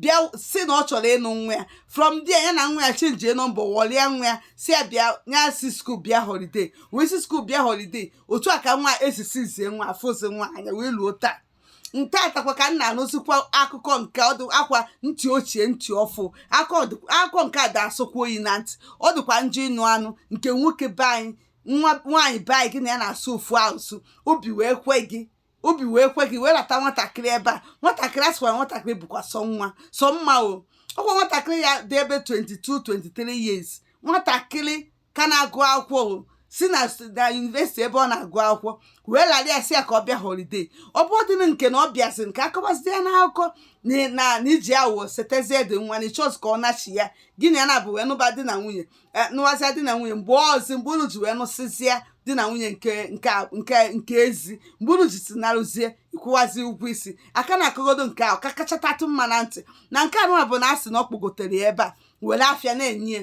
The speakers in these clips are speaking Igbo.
bịa si na ọ chọrọ ịnụ nwa ya from there ya na nwa ya chenjie nọmba wọlịa nwa ya si ya bịa ya si skuul bịa holiday wee si skuul bịa holiday otu a ka nwa esisizie nwa afụzi nwa anya wee luo taa nke atakwa ka m na-anụzikwa akụkọ nke ọdụ akwa ntị ochie ntị ọfụ akụkọ nke a da-asọkwa oyi na ntị ọ dịkwa njọ ịnụ anụ nke nwoke be anyị nwaanyị be anyị gị na ya na-asụ ofu asụsụ obi wee kwe gị obi wee kwe gị wee lata nwatakịrị ebe a nwatakịrị a sịkwara nwatakịrị bụkwa sọ nwa sọ mma o ọkwa nwatakịrị ya dị ebe 22 23 years nwatakịrị ka na-agụ akwụkwọ o si na yunivesiti ebe ọ na-agụ akwụkwọ wee lara ya si ya ka ọ bịa holiday ọ bụ ọdịnị nke na ọ bịazi nke akọbazi ya n'akụkọ na iji awụwọ setezie dị nwa na ịchọzi ka ọ nachi ya gị na ya na-abụ wee nụba di na nwunye e, nụwazia di na nwunye mgbe ọzi mgbe unu ji wee nụsịzịa di na nwunye nke ezi mgbe unu ji si naruzie ịkwụwazi ụgwọ isi a ka na-akọgodo nke ahụ ka kachatatụ mma na ntị na nke a nụwa bụ na a sị na ọ kpọgotere ya ebe a were afịa na-enye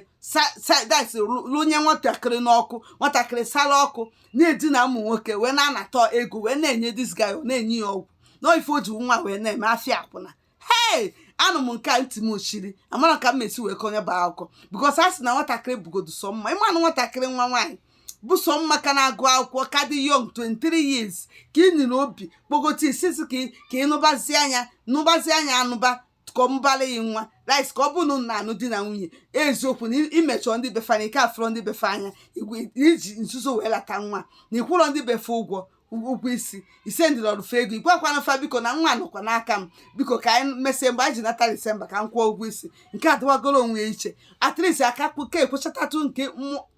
sadis lụnye nwatakịrị n'ọkụ nwatakịrị sara ọkụ na-edina ụmụ nwoke wee na-anata ego wee na-enye this guy na-enye ya ọgwụ na ife o ji nwa wee na-eme afịa akwụna hei anụ m nke a ntị m ochiri amara ka m mesi wee kọnyeba akụkọ because a sị na nwatakịrị bugodu sọ mma ịmanụ nwatakịrị nwa nwaanyị bụ sọ mma ka na-agụ akwụkwọ ka dị young 23 years ka i nwere obi kpọgote isisi ka ị- ka ị nụbazia nya nụbazia nya anụba ka ọ mụbara ya nwa right ka ọ bụrụ na unu na-anụ di na nwunye eziokwu na imechọ ndị be fa na ị ka afụrọ ndị be fa anya igwe- iji nzuzo wee lata nwa na ịkwụrọ ndị be fa ụgwọ ụgwọ isi ị sendịlọrụ fa ego igwakwana fa biko na nwa nọkwa n'aka m biko ka anyị mesie mgbe anyị ji nata disemba ka m kwụọ ụgwọ isi nke a dịwagoro onwe ya iche at least aka kpuke ekwechatatụ nke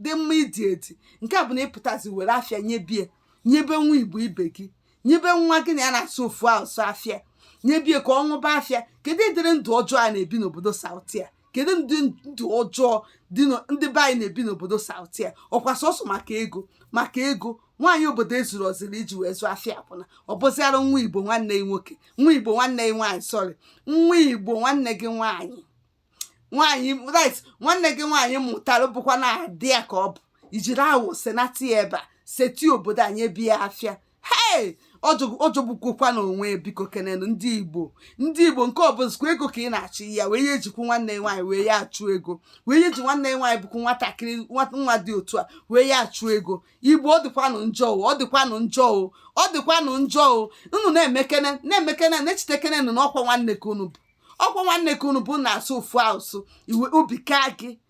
dị mma idi edi nke a bụ na ịpụtazi were afịa nyebie nyebe nwa igbo ibe gị nyebe nwa gị na ya na-asụ ofu asụ afịa nyebie ka ọ ṅụba afịa kedu ụdịrị ndụ ọjọọ a na-ebi n'obodo south a kedu ụdị ndụ ọjọọ ndị be anyị na-ebi n'obodo south a ọkwa sọsọ maka ego maka ego nwaanyị obodo ezurọziri iji wee zụọ afịa akwụna ọ bụziara nwa igbo nwanne gị nwoke nwa igbo nwanne gị nwaanyị sorry nwa igbo nwanne gị nwaanyị nwaanyị right nwanne gị nwaanyị mụtara bụkwanụ ada ya ka ọ bụ ijiri awụwọ senata ya ebe a sete obodo a nyebie afịa hei ọ jọgbukokwanụ onwe bikokenenu ndị igbo ndị igbo nke ọ bụzikwa ego ka ị na-achụ ya wee ya ejikwu nwanne ya nwaanyị wee ya achụ ego wee ya eji nwanne ya nwaanyị bụkwu nwatakịrị nwa dị otu a wee ya achụ ego igbo ọ dịkwanụ njọ o ọ dịkwanụ njọ o ọ dịkwanụ njọ o unu na-emekene na-emekene na-echetekenenụ na ọkwa nwanne ka unu bụ ọkwa nwanne ka unu bụ na-asụ ofu asụ wee obi kaa gị